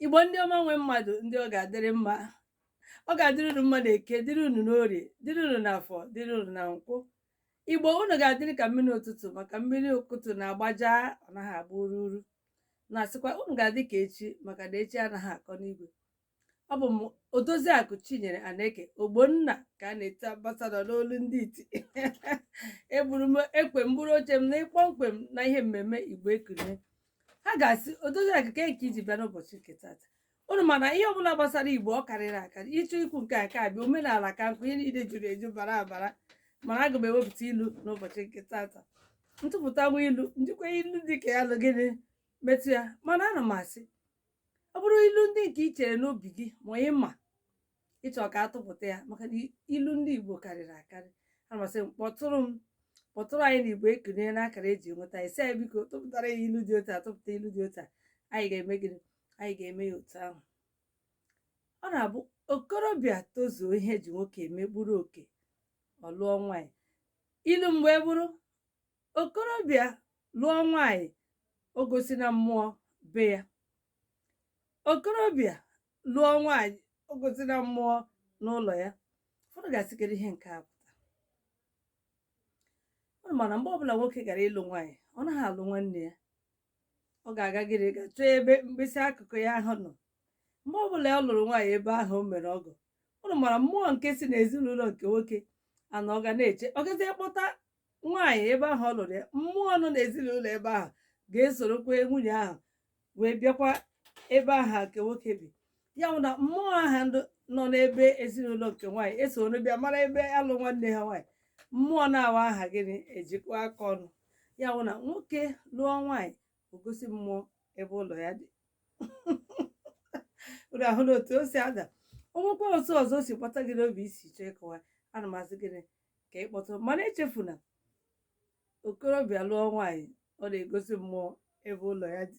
igbo ndị ọma nwe mmadụ ndị ọ ga-adịrị mma ọ ga-adịrị unu mma na eke dịrị unu n'orie dịrị unu n'afọ dịrị unu na nkwọ igbo unu ga-adịrị ka mmiri ụtụtụ maka mmiri ụtụtụ na-agbaja ọ naghị agba ururu na-asịkwa unu ga-adị ka echi maka na echi anaghị akọ n'igwe ọ bụ m odoziakụ chinyere aneke ogbonna ka a na-eti ambasadọ n'olu ndị iti eburu m ekwe m buru oche m na ịkpọmkwem na ihe mmemme igbo ekunie ha ga-asị odoziakụ kee nke i ji bịa n'ụbọchị nke tata unu ma na ihe ọbụla gbasara igbo ọ karịrị akarị ị chọọ ikwu nke a ka abịa omenala ka nkụ ihe niile juru eju bara abara mana aga m ewepụta ilu n'ụbọchị nke tata m tụpụta nwa ilu m jikwa ilu dị ka ya lụ gịnị metụ ya mana ana m asị ọ bụrụ ilu ndị nke i chere n'obi gị ma ị ma ị chọ ka a tụpụta ya maka na ilu ndị igbo karịrị akarị ana m asị kpọtụrụ m kpọtụrụ anyị na igbo ekunie n'akara eji enweta ị sị anyị biko tụpụtara ya ilu dị otu a tụpụta ilu dị otu a anyị ga-eme gịnị anyị ga-eme ya otu ahụ ọ na-abụ okorobịa tozuo ihe eji nwoke eme bụrụ oke ọ lụọ nwaanyị ilu mgbe bụrụ okorobịa lụọ nwaanyị o gosina mmụọ be ya okorobịa lụọ nwaanyị o gosina mmụọ n'ụlọ ya ụfọdụ ga-asị kedụ ihe nke a pụta unu ma na mgbe ọbụla nwoke gara ịlụ nwaanyị ọ naghị alụ nwanne ya ọ ga-agagịrị ga chọọ ebe mkpịsị akụkụ ya ahụ nọ mgbe ọbụla ọ lụrụ nwaanyị ebe ahụ o mere ọgọ unu mara mmụọ nke si n'ezinụlọ nke nwoke a na ọ ga na-eche ọ gazie kpọta nwaanyị ebe ahụ ọ lụrụ ya mmụọ nọ n'ezinụlọ ebe ahụ ga-esorokwa nwunye ahụ wee bịakwa ebe ahụ nke nwoke bi ya bụ na mmụọ ahụ ndụ- nọ n'ebe ezinụlọ nke nwaanyị esoro bịa mara ebe a lụ nwanne ha nwaanyị mmụọ naabọ ahụ gịnị ejikọọ aka ọnụ ya bụ na nwoke lụọ nwaanyị o gosi mmụọ ebe ụlọ ya dị unu ahụna otu o si aga o nwekwa otu ọzọ o si gbata gị n'obi i si chọọ ịkọwa ana m asị gịnị ka ị kpọtụ mana echefuna okorobịa lụọ nwaanyị ọ na-egosi mmụọ ebe ụlọ ya dị